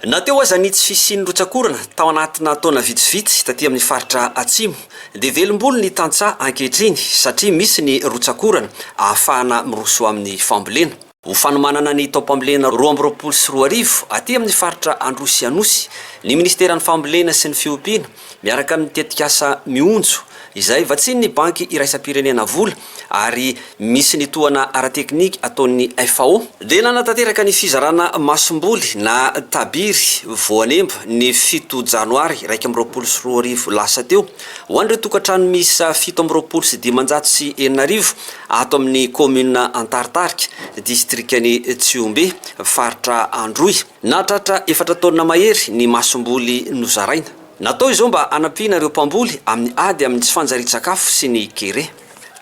Na teo aza ny tsy fisian'ny rotsak'orana tao anatina taona vitsivitsy taty amin'ny faritra Atsimo, dia velom-bolo ny tantsaha ankehitriny satria misy ny rotsak'orana ahafahana miroso amin'ny fambolena. Ho fanomanana ny taom-pambolena roa amby roapolo sy roa arivo aty amin'ny faritra Androsy Anosy ny minisiteran'ny Fambolena sy ny fiompiana miaraka amin'ny tetikasa Mionjo izay vatsian'ny Banky iraisam-pirenena vola ary misy ny tohana ara-teknika ataon'ny FAO dia nanatanteraka ny fizarana masomboly na tabiry voanemba ny fito janoary iraika amby roapolo sy roa arivo lasa teo ho an'ireo tokantrano miisa fito amby roapolo sy dimanjato sy enina arivo ato amin'ny kaominina Antaritarika, distrikan'i Tsihombe, faritra Androy. Nahatratra efatra taonina mahery ny masomboly nozaraina. Natao izao mba hanampiana ireo mpamboly amin'ny ady amin'ny tsy fanjarian-tsakafo sy ny kere.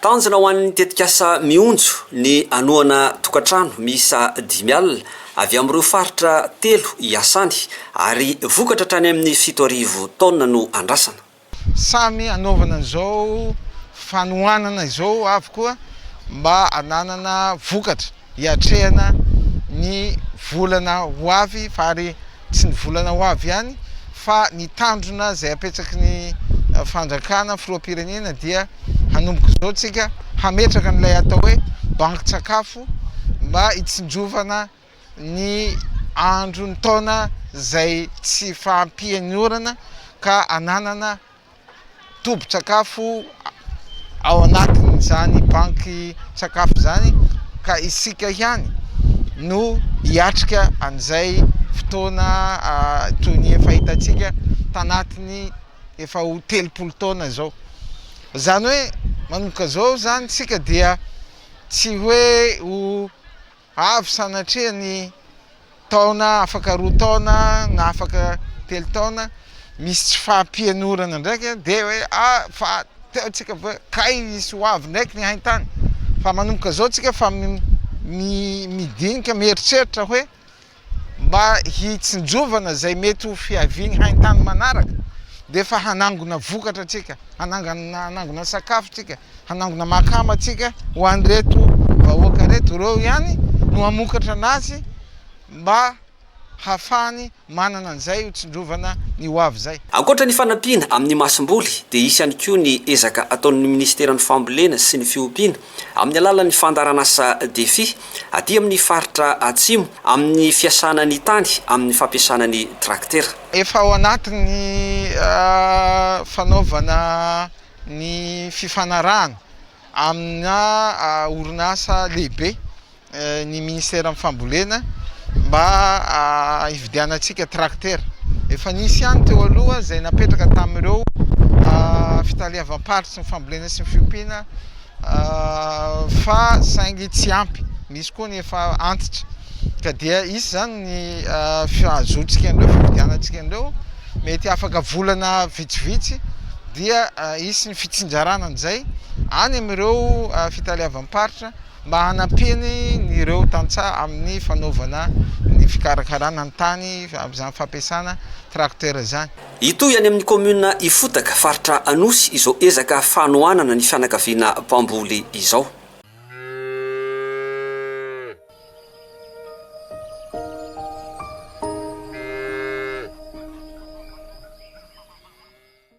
Tanjona ho an'ny tetikasa Mionjo ny hanohana tokantrano miisa dimy alina avy amin'ireo faritra telo iasany ary vokatra hatrany amin'ny fito arivo taonina no andrasana. Samy hanaovana izao fanohanana izao avy koa mba hananana vokatra hiatrehana ny volana ho avy fa ary tsy ny volana ho avy ihany fa ny tandrona izay apetsaky ny fandrakana filoham-pirenena dia hanomboka izao tsika hametraka an'ilay atao hoe bankin-tsakafo mba hitsinjovana ny andro ny taona izay tsy fahampian'ny orana ka ananana tobin-tsakafo ao anatin'izany banky sakafo izany ka isika ihany no hiatrika an'izay fotoana toy ny efa hitantsika tanatiny efa ho telopolo taona izao izany hoe manoka izao izany tsika dia tsy hoe ho Avy sanatria ny taona afaka roa taona na afaka telo taona misy tsy fahampianorana ndraika dia hoe a fa teo tsika ve kay hisy ho avy ndraiky ny haintany fa manomboka zao tsika fa midinika mieritreritra hoe mba hitsinjovana izay mety ho fiavian'ny haintany manaraka dia efa hanangona vokatra tsika, hanangona sakafo tsika, hanangona makama tsika ho an'ireto vahoaka reto, ireo ihany no hamokatra anazy mba hafahany manana an'izay ho tsindrovana ny ho avy izay. Ankoatra ny fanampiana amin'ny masomboly dia hisy ihany koa ny ezaka ataon'ny ministeran'ny fambolena sy ny fiompiana Amin'ny alalan'ny fandaharanasa Defi, aty amin'ny faritra Atsimo, amin'ny fiasana ny tany amin'ny fampiasana ny traktera. Efa ao anatin'ny fanaovana ny fifanarahana amina orinasa lehibe ny minisiteran'ny fambolena mba hividianantsika trakitera. Efa nisy ihany teo aloha izay napetraka tamin'ireo fitaleavam-paritry ny fambolena sy ny fiompiana fa saingy tsy ampy, misy koa ny efa antitra. Ka dia hisy izany ny fahazontsika an'ireo, fividianantsika an'ireo, mety afaka volana vitsivitsy dia hisy ny fitsinjarana an'izay any amin'ireo fitaleavam-paritra. mba hanampiany ny ireo tantsaha amin'ny fanaovana ny fikarakarana ny tany amin'izany fampiasana tracteur izany. Hitohy any amin'ny kaominina Ifotaka, faritra Anosy, izao ezaka fanohanana ny fianakaviana mpamboly izao.